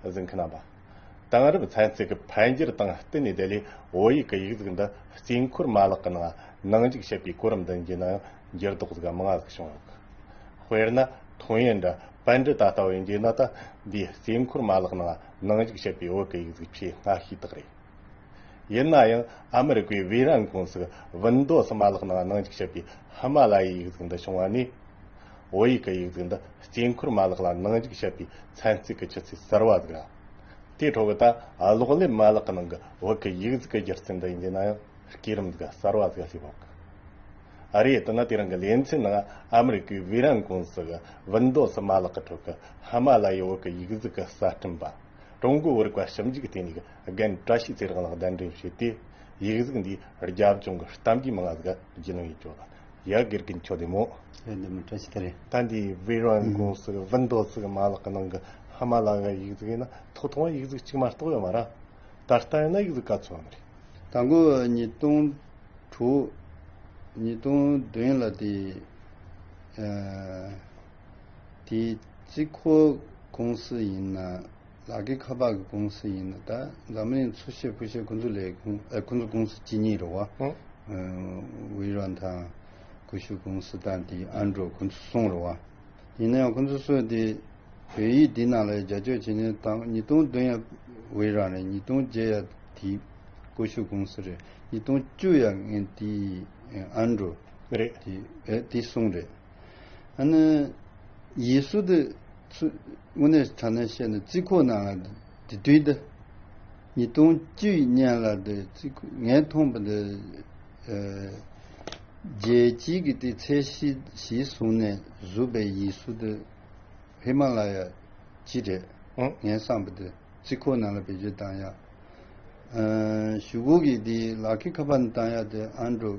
གཟིགས་མཁན་རྣམ་པ། དེང་རབས་ཚན་རྩལ་གྱི་འཕེལ་འགྱུར་དང་བསྟུན་ནས་བདེ་ལེགས་བོད་ཡིག་གི་ཡིག་གཟུགས་འདི་རྩིས་འཁོར་མ་ལག་གི་ནང་ནང་འཇུག་བྱེད་པའི་གོ་རིམ་འདི་འབྱིན་ནའང་འགྱུར་ལྡོག་ཟིག་མང་ཟིག་བྱུང་ཡོད། དཔེར་ན། ཐུང་ཡོན་འདྲ་པན་འདྲི་ད་ལྟ་བའི་འཇིགས་ན་ད་འདིའི་རྩིས་འཁོར་མ་ལག་ནང་ནང་འཇུག་བྱེད་པའི་བོད་ཀྱི་ཡིག་གཟུགས་ཆེས་སྔ་ཤོས་དག་རེད། ཡིན་ན་ཡང་ཨ་མི་རི་ཀའི་བྷི་རན་ཀུང་སིས་བིན་མདོ་སུ་མ་ལག་ནང་ནང་འཇུག་བྱེད་པའི་ཧི་མ་ལ་ཡའི་ཡིག་གཟུགས་འདི་བྱུང་བ་ནས། བོད་ཡིག་གི་ཡིག་གཟུགས་འདི་དཀྱིལ་འཁོར་མ་ལག་ལ་ནང་འཇུག་བྱེད་པའི་ཚན་རྩལ་གྱི་ཆུ་ཚད་གསར་བ་ཟིག་ལ། དེའི་འཕྲོ་བའི་ལྟ་ཀློག་ལེབ་མ་ལག་གི་ནང་གི་བོད་ཀྱི་ཡིག་གཟུགས་ཀྱི་སྒྱུ་རྩལ་འདི་ཡིན་རྒྱུ་ན་ཡང་སྐས་རིམ་ཟིག་གསར་བ་ཟིག་སླེབས་འོག་གི་རེད་དེ་ནི་དེ་རིང་གི་ལེ་ཚན་ནང་ཨ་མི་རི་ཀའི་བྷི་རན་ཀུང་སིས་བིན་མདོ་སུ་མ་ལག་གི་ཁྲོད་ཀྱི་ཧི་མ་ལ་ཡའི་བོད་ཀྱི་ཡིག་གཟུགས་གསར་སྐྲུན་པ། ཀྲུང་གོའི་བོད་རིག་པ་ཞིབ་འཇུག་ལྟེ་གནས་ཀྱི་རྒན་བཀྲ་ཤིས་ཚེ་རིང་ལགས་གདན་འདྲེན་བྱས་ཏེ། ཡིག་གཟུགས་འདི་རྒྱབ་ལྗོངས་ཀྱི་གཏམ་རྒྱུད་མང་ལ་གཟིགས་རྒྱུ་ལོན་ཡོད་ཅོག་ལ། ཡི་གེར་གྱི་མཆོད་དེ་མོ། ཡོད་འདི་མོ་བཀྲ་ཤིས་ཚེ་རིང། ད་འདི་བྷི་རོན་དགོན་སུ་བྷི་མདོ་བཙུགས་ཀྱི་མ་ལག་གི་ནང་གི་ཧི་མ་ལ་ཡའི་ཡིག་གཟུགས་ཡིན་ན་ཐོག་ཐོག་མར་ཡིག་གཟུགས་གཅིག་མ་གཏོགས་ཡོད་མ་རང། ད་ལྟ་ཡིན་ན་ཡིག་གཟུགས་ག་ཚོད་ཡོད་མ་རེད། ད་འགོ་བ་ཉིས་སྟོང་དྲུག། ཉིས་སྟོང་བདུན་ལ་དེ། དེ་རྩིས་འཁོར་ཀུང་སི་ཡིན་ན་ལག་ཁྱེར་ཁ་པག་གི་ཀུང་སི་ཡིན་ན་ད་འཛམ་གླིང་འཚོ་བྱེད་ཕུ་བྱེད་ཁུ་འཛུགས་ལས་ཁུ་འཛུགས་ཀུང་སི་ཇི་གཉིས་རེད་བ། ཝི་རོན་དང་ཀུ་ཤུ་ཀུང་སི་དང་དེ་ཨན་ཀྲོ་ཁུ་འཛུགས་གསུམ་རེད་བ། ཡིན་ན་ཡང་ཁུ་འཛུགས་སོས་དེ་བོད་ཡིག་འདི་ནང་ལ་ཡ་རྒྱ་སྤྱོད་བྱེད་ནི་ད་ཉིས་སྟོང་བདུན་ཡ་ཝི་རོན་རེད་ཉིས་སྟོང་བརྒྱད་ཡ་དེ་ཀུ་ཤུ་ཀུང་སི་རེད་ཉིས་སྟོང་བཅུ་ཡ་ངན་དེ་ཨན་ཀྲོ་རེད་དེ་གསུམ་རེད། ཡིད་སྲུ་དུ་དངོས་གནས་དྲ་གནས་བཤད་ནས་རྩིས་ཁོ་ན་ལ་དེ་དུས་ད་ཉིས་སྟོང་བཅུ་ཡི་སྙན་ལ་དེ་རྩིས་ཁོ་ངས་མཐོང་པ་དེ་རྒྱལ་སྤྱིའི་གི་དེ་ཚད་གཞི་གཞི་བཟུང་ནས་བཟུ་པའི་ཡིད་སྲུ་དུ་ཧི་མ་ལ་ཡ་སྤྱི་རེད་ངས་བསམ་པ་དེ་རྩིས་ཁོ་ན་ལ་བེད་སྤྱོད་བཏང་ཡག་ཞུ་གུ་གི་དེ་ལག་ཁི་ཁ་པར་ནས་བཏང་ཡག་དེ་ཨན་གྲོ།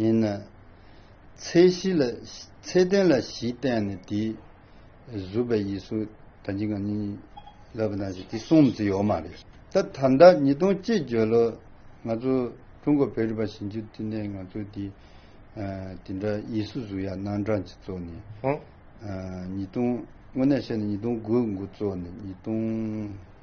ཡིན་ན། ཚད་གཞི་ལ། ཚད་ལྡན་ལ་བཞི་བསྟན་ནས་དེ། གཟུགས་པའི་ཡིད་སོགས་དང་འཇིག་ངམ་གཉིས། ལབ་པ་དང་བཞི་དེ་གསུམ་ཚེ་ཡོད་མ་རེད། ད་ད་ལྟ་ཉིས་སྟོང་གཅིག་བརྒྱད་ལོ། ང་ཚོ་ཀྲུང་གོ་བོད་རིག་པ་ཞིབ་འཇུག་ཐིན་ནས་ང་ཚོ་དེ། དེ་འདྲ་ཡིད་སོ་གཟུགས་ཡ་ནང་གྲངས་ཀྱི་གཙོ་ནས། ཉིས་སྟོང། དངོས་གནས་བཤད་ན་ཉིས་སྟོང་དགུ་དགུ་གཙོ་ནས་ཉིས་སྟོང།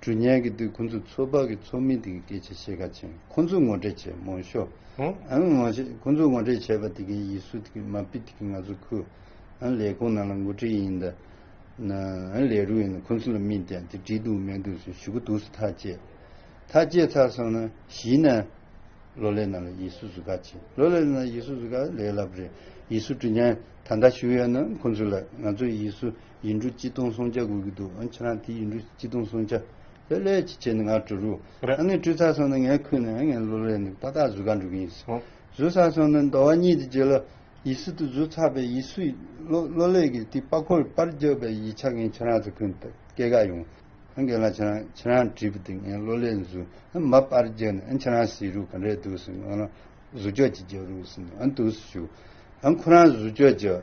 གྲུ་བསྙལ་གྱི་དུས་ཁོ་ཚོས་ཚོད་དཔག་གི་ཚོགས་མི་དེ་གི་སྐད་ཆ་ཤེས་ཁ་ཆེ་ཁོ་ཚོས་ངོ་སྤྲད་བྱས་མོ་ཤོ་ཁོ་ཚོས་ངོ་སྤྲད་བྱས་པ་དེ་གི་ཡིད་སུ་དེ་གི་མ་སྤི་དེ་གི་ང་ཚོ་ཁུ་ལས་ཁུང་ནང་ལ་འགོ་ཁྲིད་ཡིན་ད་ལས་རུ་ཡིན་ད་ཁོ་ཚོ་ལ་མི་དེ་དེ་བྲིས་འདུག་མེད་འདུག་ཟེར་ཞུ་གི་འདུག་སུ་ཐག་བཅད་ཐག་བཅད་ཚར་སོང་ན་གཞིས་ན་ལོ་ལེ་ན་ལ་ཡིད་སུ་ཟུ་ཁ་ཆེ་ལོ་ལེ་ན་ལ་ཡིད་སུ་ཟུ་ཁ་ལེ་ལབ་རེད་ཡིད་སུ་གྲུ་བསྙལ་ད་ད་ཞུ་ཡོད་ན་ཁོ་ཚོ་ལ་ང་ཚོ་ཡིད་སུ། ཡིན་འགྲོ་སྤྱི་སྟོང་སོང་བྱ་དགོས་ཀྱི་འདུག་ཨ་ཁྱེད་རང་དེ་ཡིན་འགྲོ་སྤྱི་སྟོང་སོང་བྱ། ལྷོད་ལྷོད་ཅིག་བྱས་ནས་ང་འགྲོ་རུ། ཨ་ནི་སྤྲུལ་ཚར་སོང་ན་ངའི་ཁུར་ནས་ཨ་ངའི་བློ་རེད་འདུག་ཏག་ཏག་བཟོད་དཀའ་འགྲོ་གི་ཡིན། བཟོད་ཚར་སོང་ན་མདོ་བ་གཉིས་དེ་བརྗོད་ལ། ཡིད་སྲིད་དུ་བཟོད་ཚར་པའི་ཡིད་སུས་བློ་ལས་ཀྱི་དེ་དཔའ་འཁོར་པར་རྒྱབ་པའི་ཡིད་ཆགས་མཁན་ཁྱེད་རང་ཚོ་ཁུར་ནས་སྐད་དགག་ཡོང། ཨ་འགས་ལ་ཁྱེད་རང་ཁྱེད་རང་བྲིས་པ་དེ་ངའི་བློ་ལས་ཟུར་མ་པར་རྒྱབ་ནས་ཨ་ཁྱེད་རང་ཟེར་རུ་ག་འདྲས་འདུག་ཟེར་ནས་ཨ་ལ་བཟོད་ཅོག་ཅིག་རྒྱབ་རུ་ཟེར་ནས་ཨ་འདུག་ཟེར་ཞུ། ཨ་ཁོ་རང་བཟོད་ཅོག་རྒྱབ།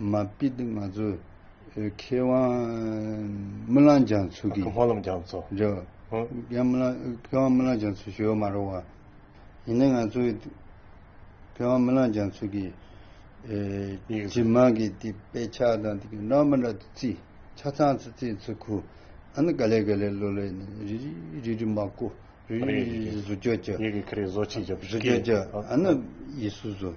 མ་པིད་ང་ཚོ་མཁས་དབང་རྨི་ལམ་རྒྱ་མཚོ་གིས། མཁས་དབང་རྨི་ལམ་རྒྱ་མཚོ། རྒྱ། མཁས་དབང་རྨི་ལམ་རྒྱ་མཚོ་ཞེས་པ་མ་རུང་བ། ཡིན་ནའི་ང་ཚོའི་མཁས་དབང་རྨི་ལམ་རྒྱ་མཚོ་གིས། སྤྱི་མང་གི་དེ་དཔེ་ཆ་དང་དེ་གི་ནོར་མ་འདྲ་དུ་རྩིས། ཆ་ཚང་ཚོ་རྩིས་ཚོ་ཁུ། ཨ་ནི་ག་ལེ་ག་ལེ་ལོ་ལེ་ནི་རི་རི་རི་རི་མ་ཀུ། རི་རི་རི་རི་བཟོ་བཅོས་བྱ། ཡི་གེ་ཁ་རས་བཟོ་བྱེད་བྱ་བུ་སྐད། བཟོ་བཅོས་བྱ། ཨ་ནི་ཡི་སུ་བཟོ།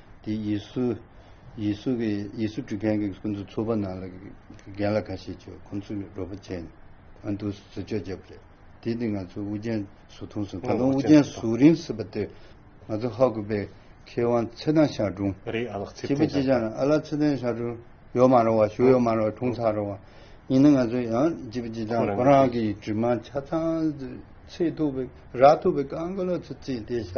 དེ་ཡིས་སུ། ཡིས་སུ་གི་ཡིས་སུ་སྒྲུབ་མཁན་གྱི་སྐུ་འཚོ་ཚོ་པ་ནང་ལ་རྒན་ལ་ཁ་ཤས་ཆོས་ཁོང་ཚོས་རོགས་པ་བྱས་ནས་ཨ་མདོ་སུ་ཟུར་ཆོག་བྱས་པ་རེད། དེ་དུས་ང་ཚོ་དབུ་ཅན་ཟུར་ཐུང་སོང་ད་དུང་དབུ་ཅན་ཟུར་རིང་སྲིད་པ་དེར་ང་ཚོ་ཧ་གོ་པའི་མཁས་དབང་ཚེ་དང་ཞང་དྲུང། རེད་ཨ་ལགས་ཚེ་བརྟན་ཞང་དྲུང། ཨ་ལགས་ཚེ་བརྟན་ཞང་དྲུང་ཡོད་མ་རུང་བ་ཞུ་ཡོད་མ་རུང་བ་དྲུང་ཚར་རུང་བ་ཡིན་ན་ང་ཚོ་ཡང་བྱིས་པ་ཅི་ཆང་ཁོ་རང་གི་དྲི་མ་ཆ་ཚང་ཚིག་ཐུབ་པའི་རག་ཐུབ་པའི་ཀང་ཀ་ལོ་ཚོ་བརྩིས་ཏེ་བཞག་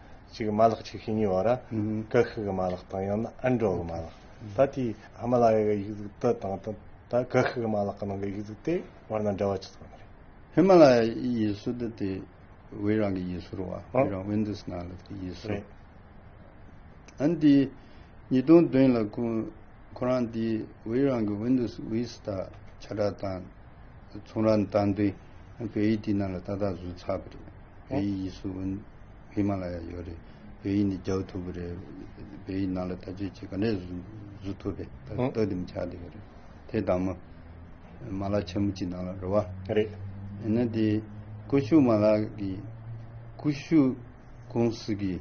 གཅིག་མ་ལག་ཆིག་ཤོས་གཉིས་བར་ཀྵ་ཤི་གི་མ་ལག་དང་ཡང་ན་ཨིན་དྲོ་གི་མ་ལག་ད་ལྟའི་ཧི་མ་ལ་ཡ་གི་ཡིག་གཟུགས་དུ་དང་དང་ད་ཀྵ་ཤི་གི་མ་ལག་གི་ནང་གི་ཡིག་གཟུགས་དེ་བར་ན་འབྲེལ་བ་ཅི་ཙམ་ཡོད་རེད། ཧི་མ་ལ་ཡ་ཡིག་གཟུགས་དེ་དེ་བྷི་རང་གི་ཡིག་གཟུགས་རེད་བ་བྷི་རང་ཝིན་དུས་ནང་ལ་དེ་ཡིག་གཟུགས་རེད། ཨན་དེ་ཉིས་སྟོང་བདུན་ལ་ཁོ་ཁོ་རང་དེ་བྷི་རང་གི་ཝིན་དུས་ཝིས་ཏ་ཆ་བྲག་དང་ཚོང་ར་དང་དེ་བྷི་ཡིག་དེ་ནང་ལ་ཏག་ཏག་བཟོས་ཚར་བ་རེད། བོད་ཡིག་ཡིག་གཟུགས་ཨུན་ཧི་མ་ལ་ཡ་ཡོད་རེད། བོད་ཡིག་ནི་རྒྱག་ཐུབ་པོ་རེད། བོད་ཡིག་ནང་ལ་བལྟ་སྤྱོད་ཅིག་ག་འདྲས་བཟོ་ཐུབ་པས་ད་ལྟ་བལྟ་འདེམས་བྱ་བསྡད་ཡོད་རེད། དེ་དང་མོ། མ་ལག་ཆེན་མོ་གཅིག་ནང་ལ་རེད་བ། རེད། ཡིན་ན་དེ། ཀུ་ཤུ་མ་ལག་གི། ཀུ་ཤུ། ཀུང་སི་གི།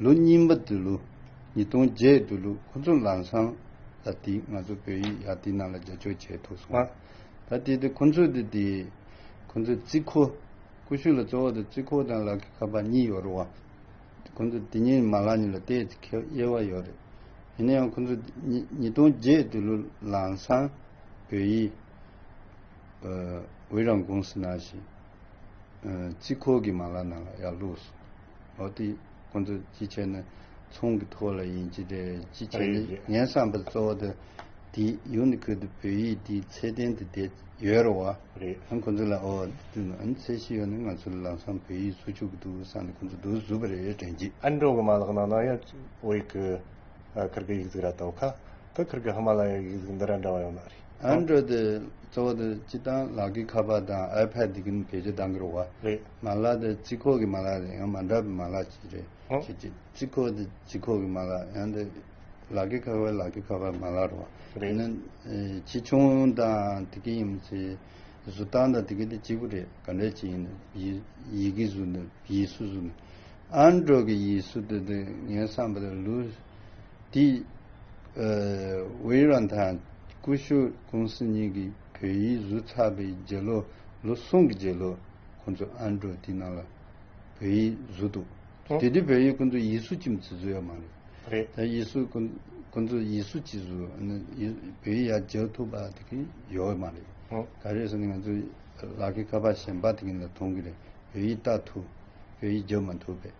ལོ་རྙིང་པ་དུ་ལུ། ཉིས་སྟོང་བརྒྱད་དུ་ལུ་ཁོ་ཚོ་ལམ་སང་ལ་དེ་ང་ཚོ་བོད་ཡིག་ཡག་དེ་ནང་ལ་རྒྱག་ཆོག་བྱས་ཐུབ་སོང་བ། ད་དེ་དེ་ཁོ་ཚོ་དེ་དེ། ཁོ་ཚོ་རྩིས་ཁོ། ཀུ་ཤུ་ལ་གཙོ་བོ་དང་རྩི་ཁུག་དང་ལག་གི་ཁ་པར་གཉིས་ཡོད་རུང་བ། ཁོ་ཚོ་དེ་གཉིས་མ་ལག་གཉིས་ལ་བལྟས་ཚེ་ཁེ་གཡེལ་བ་ཡོད་རེད། ཡིན་ན་ཡང་ཁོ་ཚོ་ཉིས་སྟོང་བརྒྱད་དུ་ལུ་ལང་སང་བོད་ཡིག་འོས་རང་ཀུང་སི་ནང་བཞིན་རྩི་ཁུག་གི་མ་ལག་ནང་ལ་ཡར་བླུགས་སོང། འོ་དེ། ཁོ་ཚོ་ཅི་བྱེད་ན་ཚོང་གི་ཐོག་ལ་ཡིན་གྱི་རེད་ཅི་བྱེད་ན་ངས་བསམ་པར་གཙོ་བོ་དེ་དེ་ཡུ་ནི་ཁོད་དུ་བོད་ཡིག་དེའི་ཚད་ལྡན་དུ་བསྡད་ཡོད་རེད་བ། ཡང་ཁོ་ཚོ་ལ་ཨོ་དེ་ནོ་ཨན་ཚད་ཤི་ཡོད་ནི་ང་ཚོ་ལ་ལམ་སང་བོད་ཡིག་བཟོ་ཆོག་གི་འདུག་བསམ་ནས་ཁོ་ཚོ་འདུག་བཟོས་པ་རེད་དྲན་གྱི། ཨན་ཀྲོའུ་གི་མ་ལག་ནང་ན་ཡང་ཨོ་ཡིག་གི་ཁིར་གི་ཡིག་གཟུགས་ར་དང་ཁ་ཁི་ཁིར་གི་ཧི་མ་ལ་ཡ་ཡིག་གཟུགས་འདི་ར་འདྲ་བ་ཡོང་ན་རེད། Android དེ་གཙོ་བོ་དེ་སྤྱི་བཏང་ལག་ཁྱི་ཁ་པར་དང iPad དེ་གིན་གལ་ཆེ་ལྡང་གི་རུ་བ། མ་ལག་དེ་རྩིས་ཁོག་གི་མ་ལག་རེད་ཡང་མ་འདྲ་བའི་མ་ལག་ཅིག་རེད། ཞེས་གཅིག་རྩིས་ཁོག་དེ་རྩིས་ཁོག་གི་མ་ལག་ཡང་དེ་ལག་ཁྱི་ཁ་པར་ལག་ཁྱི་ཁ་པར་མ་ལག་རུ་བ། དེ་ནི་ཆེ་ཆུང་དང་དེ་གིན་ཡིན་མི་ཚེ་གཟུ་བཏང་དང་དེ་གིན་དེ་གཅིག་པུ་རེད་ག་འདྲ་ཅིག་ཡིན་ནའི་ཡི་གི་གཟུ་ནའི་ཡིས་སུ་གཟུ་ནའི Android གི་ཡིས་སུ་དེ་དེ་ངས་བསམ་པ་དེ་ལུས། འདིས། ཝེ་ཡི་རན་དང་ཀུ་ཤོ་ཀུང་སི་གཉིས་ཀྱིས་བོད་ཡིག་བཟོས་ཚར་པའི་རྗེས་ལོ་ལོ་གསུམ་གྱི་རྗེས་ལོ་ཁོང་ཚོས་ཨ་མྲོ་དེའི་ནང་ལ་བོད་ཡིག་བཟོས་འདུག་དེ་དུས་བོད་ཡིག་ཀུན་ཏུ་ཡིད་སུ་ཅིམ་ཅི་བཟོས་ཡ་མ་རེད། རེད། ད་ཡིད་སུ་ཀུན་ཏུ་ཡིད་སུ་ཅི་བཟོས་བོད་ཡིག་ཡ་རྗེའོ་ཐུག་པ་དེ་གི་ཡོ་ཡ་མ་རེད། ད་རེས་ནི་ང་ཚོའི་ལག་གི་ཁ་པར་གཞན་པ་དེ་གི་ནང་དུ་མཐོང་གི་རེད་བོད་ཡིག་བལྟ་ཐུབ་བོད་ཡིག་བརྗོད་མ་ཐུབ་པས།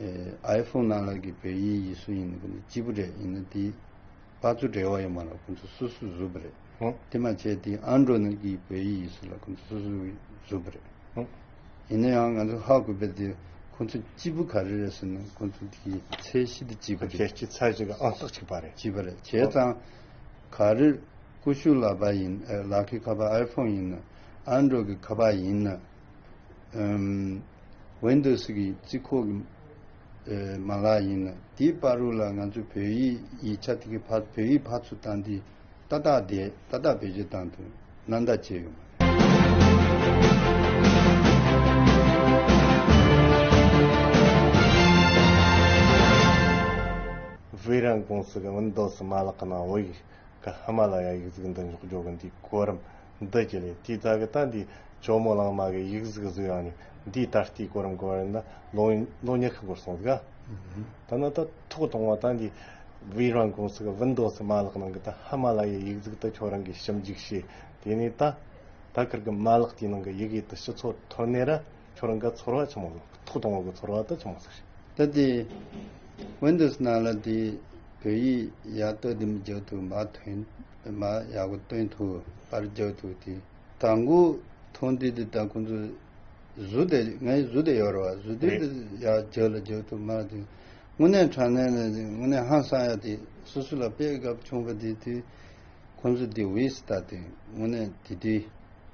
ཨའི་ཕུག་ནང་ལག་གི་བོད་ཡིག་ཡིག་གཟུགས་ཡིན་ནི་ཀུན་ཏུ་གཅིག་པུ་རེད་ཡིན་ན་དེ་བ་ཚུ་འབྲེལ་བ་ཡོད་མ་ལག་ཀུན་ཏུ་སུ་སུ་གཟུགས་པོ་རེད་དེ་མ་བྱས་དེ་ཨ་མདོ་ནང་གི་བོད་ཡིག་ཡིག་གཟུགས་ལ་ཀུན་ཏུ་སུ་སུ་གཟུགས་པོ་རེད་ཡིན་ན་ཡང་ང་ཚོ་ཧ་གོ་པའི་དེ་ཁོང་ཚོ་གཅིག་པུ་ག་རེ་རེད་ཟེར་ན་ཁོང་ཚོ་དེ་གི་ཚད་གཞི་དེ་གཅིག་པུ་རེད། ཁྱེད་ཀྱི་ཚད་གཞི་གི་ཨང་རྟགས་གཅིག་པ་རེད། གཅིག་པ་རེད་བྱས་ཙང་ག་རེ་ཀུ་ཤུ་ལ་བ་ཡིན་ཨའི་ལག་གི་ཁ་བ་ཨའི་ཕུག་ཡིན་ན་ཨ་མདོ་གི་ཁ་བ་ཡིན་ན། ཝན་དུ་སི་གི་རྩིས་ཁོག་གི་མ་ལག་ཡིན་ལ་དེའི་དཔའ་རུ་ལ་ང་ཚོ་བོད་ཡིག་ཡིག་ཆ་དེ་གི་བ་བོད་ཡིག་བ་ཚུ་དང་དེ་ཏག་ཏག་བསྡད་ཏག་ཏག་བེད་སྤྱོད་དང་དུ་ན་འདའ་བྱས་ཡོད་མ་རེད། བྷི་རན་ཀུང་སི་གི་ཝན་དུ་སི་མ་ལག་གི་ནང་ཝི་གི་ཧི་མ་ལ་ཡ་ཡིག་རྫིག་འདི་འཇོག་རྒྱོ་གི་འདུག་གོ་རིམ་འདི་ཅི་ལས་དེ་ད་གི་ལྟ་འདི་ཇོ་མོ་གླང་མ་གི་ཡིག་གཟུགས་བཟོས་ཡང་ནི་འདིའི་ད་ལྟའི་གོ་རིམ་གོ་རིམ་ན་ལོ་ཉི་ཤུ་འགོར་སོང་གི་ད་ན་ད་ཐུག་གཏོང་བ་ད་འདི་བི་རང་ཀུང་སི་གི་བིན་དོ་སི་མ་ལག་ནང་གི་ད་ཧ་མ་ལ་ཡའི་ཡིག་གཟུགས་ད་ཁྱོད་རང་གིས་ཞིབ་འཇུག་བྱས་དེ་ནས་ད་ད་ཀར་གི་མ་ལག་དེའི་ནང་གི་ཡིག་ཡིད་དུ་ཞུ་ཚོད་ཐོར་ནས་ར་ཁྱོད་རང་ག་ཚོར་བ་ཆེན་མོ་ལ་ཐུག་དང་བ་ག་ཚོར་བ་ད་ཆེན་མོ་ཟེར། ད་དེ Windows ནང་ལ་དེ་བོད་ཡིག་ཡག་སྟོད་དེ་མི་རྒྱག་ཐུབ་མ་ཐོན་མ་ཡག་པོ་སྟོན་ཐུབ་པར་རྒྱག་ཐུབ་དེ་ད་མགོ་ཐོང་དུས་དེ་ད་ཁོང་ཚོ་བཟོ་དེ་ང་ཡི་བཟོ་དེ་ཡོད་རེད་བ་བཟོ་དུས་དེ་ཡག་རྒྱག་ལ་རྒྱག་ཐུབ་མ་རེད་དེ་དངོས་གནས་དྲང་གནས་ནས་དེ་དངོས་གནས་ཧང་སང་ཡག་དེ་སོ་སོ་ལ་དཔེ་གབ་ཆུང་པ་དེ་དུས་ཁོང་ཚོ་དེ་བིས་ད་དེ་དངོས་གནས་དེ་དུས།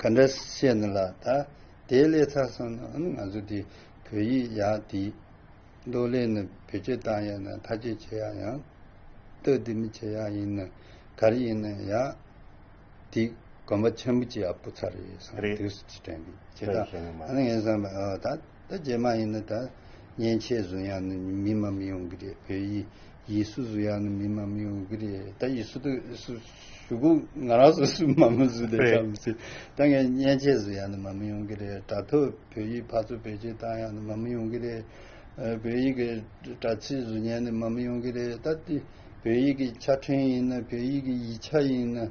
ག་འདྲ་བཤད་ན་ལ་ད་དེའི་སླད་ཚར་སོང་ན་ང་ཚོ་དེ་བོད་ཡིག་ཡག་དེ་མདོ་གླེང་ནི་བོད་སྤྱི་བཏང་ཡག་ན་ཐ་ཆད་བྱེད་ཡག་ཡང་སྟོད་དེ་མི་བྱེད་ཡག་ཡིན་ན་ག་རེ་ཡིན་ན་ཡག་དེ་གོམ་པ་ཆེན་པོ་བྱེད་ཡག་པོ་ཚར་རེད་བསམ་དུས་སུ་དེ་དྲན་དགོས་བྱེད་ད་ངས་བསམ་པ་ད། ད་རྗེས་མ་ཡིན་ན་ད། མཉེན་ཆས་བཟོ་ཡག་ནི་མི་མམ་ཡོང་གི་རེད་བོད་ཡིག་ཡིག་སུ་བཟོ་ཡག་ནི་མི་མམ་ཡོང་གི་རེད་ད་ཡིག་སུ་དུ་སུ་ཞུ་གུ་ང་རང་སུ་སུ་མམ་མོ་སུ་ལས་ཀྱང་མི་སྲིད་ད་ངས་མཉེན་ཆས་བཟོ་ཡག་ནི་མམ་ཡོང་གི་རེད་དྲ་ཐོག་བོད་ཡིག་ཕར་ཚུར་བེད་སྤྱོད་བཏང་ཡག་ནི་མམ་ཡོང་གི་རེད་བོད་ཡིག་གི་དྲ་ཚིགས་བཟོ་ཉན་ནི་མམ་ཡོང་གི་རེད་ད་འདི་བོད་ཡིག་གི་ཆ་འཕྲིན་ཡིན་ན་བོད་ཡིག་གི་ཡིག་ཆ་ཡིན་ན་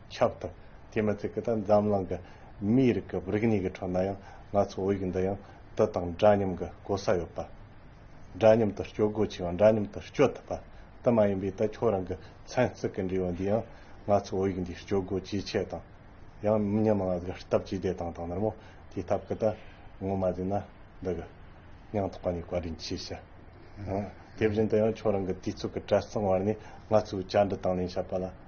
ཁྱབ་ཐུབ། དེས་མ་ཚད་ཀི་ད་འཛམ་གླིང་གི་མིའི་རིགས་ཀི་རིག་གནས་ཀི་ཁྲོད་ན་ཡང་ང་ཚོའི་བོད་ཡིག་འདི་ཡང་དུད་དང་འདྲ་མཉམ་གི་གོ་ས་ཡོད་པ། འདྲ་མཉམ་དུ་སྤྱོད་སྒོ་ཆེ་བ་འདྲ་མཉམ་དུ་སྤྱོད་ཐུབ་པ་དུ་མ་ཡིན་པས་ད་ཁྱོད་རང་གི་མཚན་བརྩི་ཀི་འབྲེལ་བ་འདི་ཡང་ང་ཚོའི་བོད་ཡིག་འདི་སྤྱོད་སྒོ་ཇེ་ཆེ་དང་ཡང་མི་ཉམས་ང་གི་སྟབས་ཇེ་བདེ་དང་དང་ནར་མོ་དེའི་ཐབས་ཀི་ད་ངོ་མ་ཟིན་ན་འདི་གི་སྙིང་ཐག་པ་ནས་བཀའ་དྲིན་ཆེ་ཞུ། དེ་བཞིན་དུ་ཡང་ཁྱོད་རང་གི་དུས་ཚོད་ཀི་བྲེལ་ཟིང་བར་ནས་ང་ཚོའི་བཅར་འདྲི་དང་ལེན་བྱས་པ་ལ